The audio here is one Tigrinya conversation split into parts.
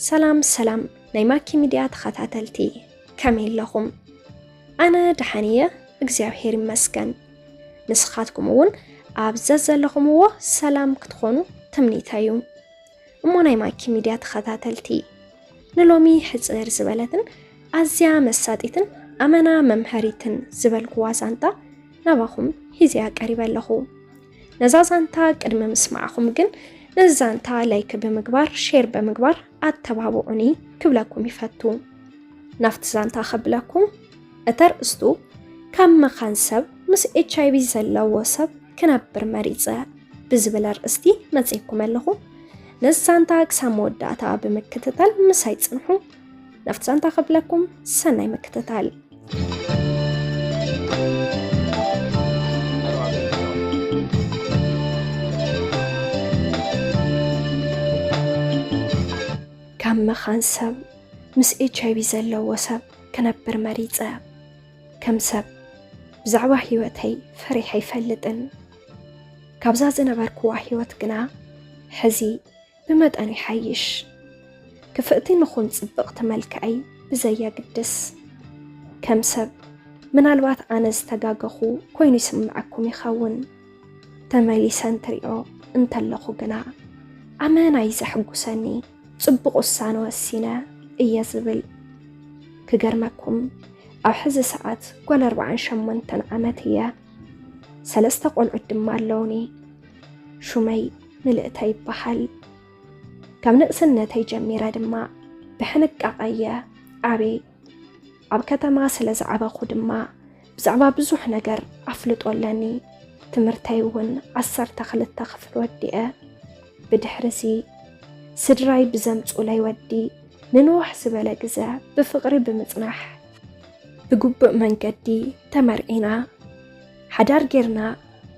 ሰላም ሰላም ናይ ማኪ ሚድያ ተኸታተልቲ ከመይ ኣለኹም? ኣነ ደሓን እየ እግዚኣብሄር ይመስገን። ንስኻትኩም እውን ኣብ ዘዘለኹምዎ ሰላም ክትኾኑ ትምኒተይ እዩ። እሞ ናይ ማኪ ሚድያ ተኸታተልቲ ንሎሚ ሕፅር ዝበለትን ኣዝያ መሳጢትን ኣመና መምሀሪትን ዝበልኩዋ ዛንታ ናባኹም ሂዚያ ቀሪበ ኣለኹ። ነዛ ዛንታ ቅድሚ ምስማዕኹም ግን ነዚ ዛንታ ላይክ ብምግባር ሼር ብምግባር ኣተባብዑኒ ክብለኩም ይፈቱ። ናብቲ ዛንታ ከብለኩም እተርእስቱ ካብ መኻን ሰብ ምስ ኤችኣይቪ ዘለዎ ሰብ ክነብር መሪጸ ብዝብል ኣርእስቲ መጺኩመ ኣለኹ። ነዚ ዛንታ ክሳብ መወዳእታ ብምክትታል ምሳይ ጽንሑ። ናብቲ ዛንታ ክብለኩም ሰናይ ምክትታል። ካብ መኻን ሰብ ምስ ኤችኣይቪ ዘለዎ ሰብ ክነብር መሪጸ። ከም ሰብ ብዛዕባ ህይወተይ ፈሪሕ ኣይፈልጥን። ካብዛ ዝነበርክዋ ህይወት ግና ሕዚ ብመጠን ይሓይሽ። ክፍእቲ ንኹን ጽብቕቲ መልክዐይ ብዘየግድስ ከም ሰብ ምናልባት ኣነ ዝተጋገኹ ኮይኑ ይስምዐኩም ይኸውን ተመሊሰ እንትሪኦ እንተለኹ ግና ኣመና እዩ ዘሕጉሰኒ። ጽቡቕ ውሳነ ወሲነ እየ ዝብል ክገርመኩም ኣብ ሕዚ ሰዓት ጓል ኣርባዓን ሸሞንተን ዓመት እየ ሰለስተ ቆልዑት ድማ ኣለውኒ ሹመይ ምልእተ ይበሃል ካብ ንእስነተይ ጀሚረ ድማ ብሕንቃቐ እየ ዓብየ ኣብ ከተማ ስለ ዝዓበኹ ድማ ብዛዕባ ብዙሕ ነገር ኣፍልጦ ኣለኒ። ትምህርተይ እውን ዓሰርተ ክልተ ክፍል ወዲአ ብድሕርዚ ስድራይ ብዘምጹለይ ወዲ ንንውሕ ዝበለ ግዘ ብፍቕሪ ብምጽናሕ ብግቡእ መንገዲ ተመርዒና ሓዳር ጌርና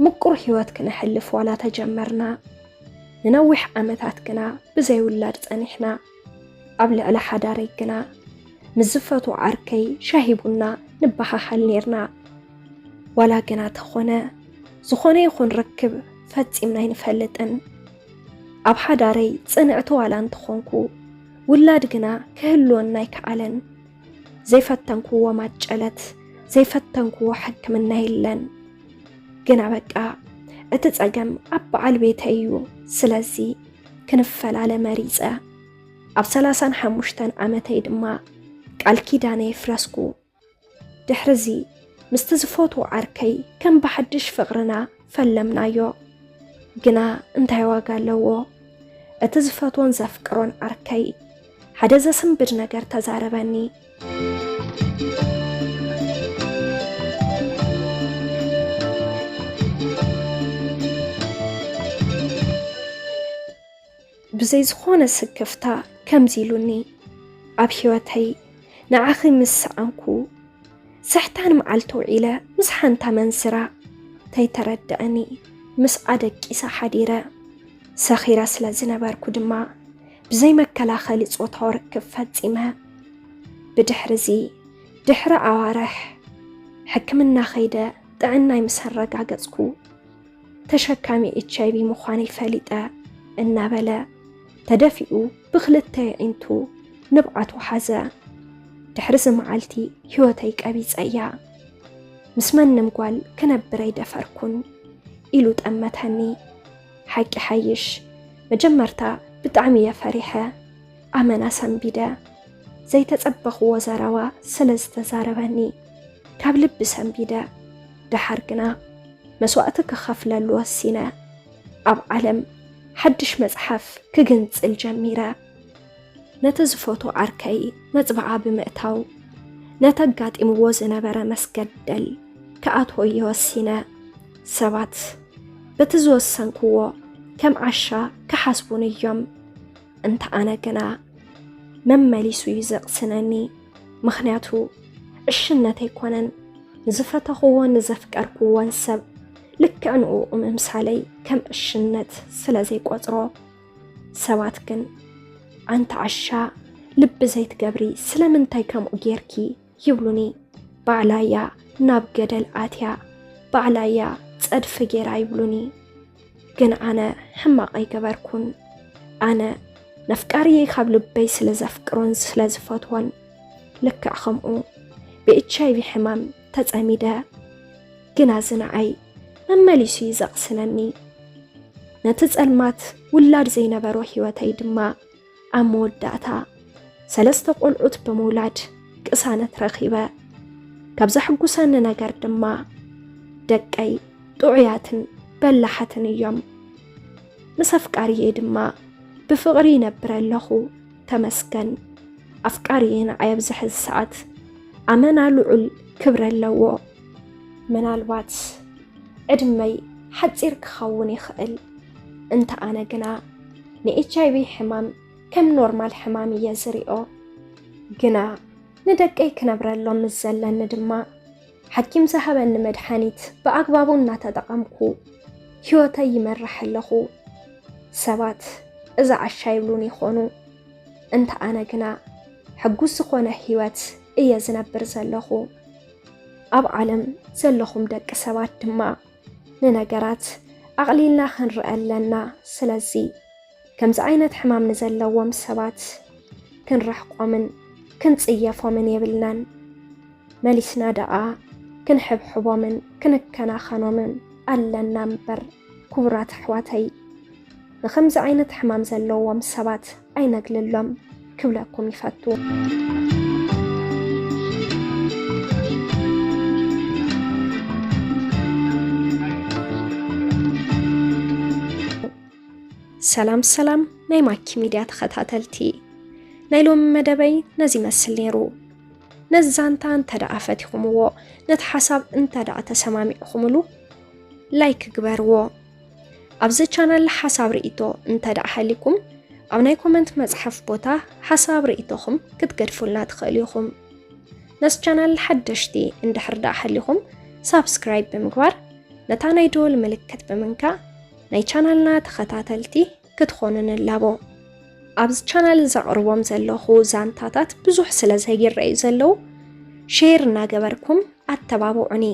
ምቁር ህይወት ክነሕልፍ ዋላ ተጀመርና ንነዊሕ ዓመታት ግና ብዘይውላድ ጸኒሕና። ኣብ ልዕሊ ሓዳረይ ግና ምስ ዝፈቱ ዓርከይ ሻሂ ቡና ንበሃሃል ነርና ዋላ ግና ተኾነ ዝኾነ ይኹን ርክብ ፈጺምና ኣይንፈልጥን ኣብ ሓዳረይ ጽንዕቲ ዋላ እንተኾንኩ ውላድ ግና ክህልወና ኣይከኣለን ዘይፈተንክዎ ማጨለት ዘይፈተንክዎ ሕክምና የለን ግና በቃ እቲ ጸገም ኣብ በዓል ቤተይ እዩ ስለዚ ክንፈላለ መሪጸ። ኣብ ሰላሳን ሓሙሽተን ዓመተይ ድማ ቃል ኪዳነይ ኣፍረስኩ። ድሕርዚ ምስቲ ዝፈትዎ ዓርከይ ከም ብሓድሽ ፍቕርና ፈለምናዮ። ግና እንታይ ዋጋ ኣለዎ እቲ ዝፈትዎን ዘፍቅሮን ዓርከይ ሓደ ዘስንብድ ነገር ተዛረበኒ። ብዘይ ዝኾነ ስክፍታ ከምዚ ኢሉኒ፣ ኣብ ህይወተይ ንዓኺ ምስ ሰኣንኩ ስሕታን መዓልቲ ውዒለ ምስ ሓንቲ ኣመንዝራ ተይተረድኣኒ ምስኣ ደቂሰ ሓዲረ። ሰኺረ ስለ ዝነበርኩ ድማ ብዘይ መከላኸሊ ጾታዊ ርክብ ፈጺመ። ብድሕሪ እዚ ድሕሪ ኣዋርሕ ሕክምና ከይደ ጥዕናይ ምስ ኣረጋገጽኩ ተሸካሚ ኤች ኣይቪ ምዃነይ ፈሊጠ እናበለ ተደፊኡ ብክልተ የዒንቱ ንብዓቱ ሓዘ። ድሕሪዚ መዓልቲ ህይወተይ ቀቢጸ እያ ምስ መንም ጓል ክነብር ኣይደፈርኩን ኢሉ ጠመተኒ። ሓቂ ይሓይሽ መጀመርታ ብጣዕሚ እየ ፈሪሐ ኣመና ሰንቢደ ዘይተጸበኽዎ ዘረባ ስለ ዝተዛረበኒ ካብ ልቢ ሰንቢደ ደሓር ግና መስዋእቲ ክኸፍለሉ ወሲነ ኣብ ዓለም ሓድሽ መጽሓፍ ክግንጽል ጀሚረ። ነቲ ዝፈቶ ዓርከይ መጽብዓ ብምእታው ነቲ ኣጋጢምዎ ዝነበረ መስገደል ክኣትወዮ ወሲነ ሰባት በቲ ዝወሰንክዎ ከም ዓሻ ክሓስቡን እዮም እንተ ኣነ ግና መመሊሱ እዩ ዘቕስነኒ ምኽንያቱ ዕሽነት ኣይኮነን ንዝፈተኽዎን ንዘፍቀርክዎን ሰብ ልክዕ ንኡ ምምሳለይ ከም ዕሽነት ስለ ዘይቆጽሮ ሰባት ግን ኣንቲ ዓሻ ልቢ ዘይትገብሪ ስለምንታይ ከምኡ ጌርኪ ይብሉኒ። ባዕላያ ናብ ገደል ኣትያ ባዕላያ ጸድፊ ጌራ ይብሉኒ። ግን ኣነ ሕማቕ ኣይገበርኩን። ኣነ ነፍቃሪየ ካብ ልበይ ስለ ዘፍቅሮን ስለ ዝፈትዎን ልክዕ ከምኡ ብኤች ኣይቪ ሕማም ተጸሚደ ግና እዚ ንዓይ መመሊሱ እዩ ዘቕስነኒ። ነቲ ጸልማት ውላድ ዘይነበሮ ህይወተይ ድማ ኣብ መወዳእታ ሰለስተ ቆልዑት ብምውላድ ቅሳነት ረኺበ። ካብ ዘሕጉሰኒ ነገር ድማ ደቀይ ጥዑያትን በላሓትን እዮም። ምስ ኣፍቃርየይ ድማ ብፍቕሪ ይነብር ኣለኹ። ተመስገን ኣፍቃሪ ንዓይ ኣብዚ ሕዚ ሰዓት ኣመና ልዑል ክብረ ኣለዎ። ምናልባት ዕድመይ ሓፂር ክኸውን ይኽእል እንተ ኣነ ግና ንኤች ኣይቪ ሕማም ከም ኖርማል ሕማም እየ ዝሪኦ ግና ንደቀይ ክነብረሎም ምስ ዘለኒ ድማ ሓኪም ዝሃበኒ መድሓኒት ብኣግባቡ እናተጠቐምኩ ህይወተይ ይመራሕ ኣለኹ። ሰባት እዚ ዓሻ ይብሉን ይኾኑ፣ እንተ ኣነ ግና ሕጉስ ዝኾነ ህይወት እየ ዝነብር ዘለኹ። ኣብ ዓለም ዘለኹም ደቂ ሰባት ድማ ንነገራት ኣቕሊልና ክንርአ ኣለና። ስለዚ ከምዚ ዓይነት ሕማም ንዘለዎም ሰባት ክንርሕቆምን ክንጽየፎምን የብልናን። መሊስና ደኣ ክንሕብሕቦምን ክንከናኸኖምን ኣለና እምበር ክቡራት ኣሕዋተይ ንከምዚ ዓይነት ሕማም ዘለዎም ሰባት ኣይነግልሎም ክብለኩም ይፈቱ። ሰላም ሰላም ናይ ማኪ ሚድያ ተኸታተልቲ ናይ ሎሚ መደበይ ነዚ ይመስል ነይሩ ነዚ ዛንታ እንተ ደኣ ፈቲኹምዎ ነቲ ሓሳብ እንተ ደኣ ተሰማሚዕኹምሉ ላይክ ግበርዎ ኣብዚ ቻናል ሓሳብ ርእቶ እንተ ደኣ ሃሊኩም ኣብ ናይ ኮመንት መፅሓፍ ቦታ ሓሳብ ርእቶኹም ክትገድፉልና ትኽእሉ ኢኹም ነዚ ቻናል ሓደሽቲ እንድሕር ደኣ ሃሊኹም ሳብስክራይብ ብምግባር ነታ ናይ ደወል ምልክት ብምንካእ ናይ ቻናልና ተኸታተልቲ ክትኾኑ ንላቦ። ኣብዚ ቻናል ዘቕርቦም ዘለኹ ዛንታታት ብዙሕ ስለ ዘይረኣዩ ዘለዉ ሼር እናገበርኩም ኣተባብዑኒ።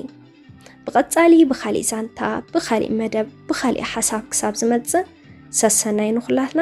ብቐጻሊ ብኻሊእ ዛንታ፣ ብኻሊእ መደብ፣ ብኻሊእ ሓሳብ ክሳብ ዝመጽእ ሰሰናይ ንኹላትና።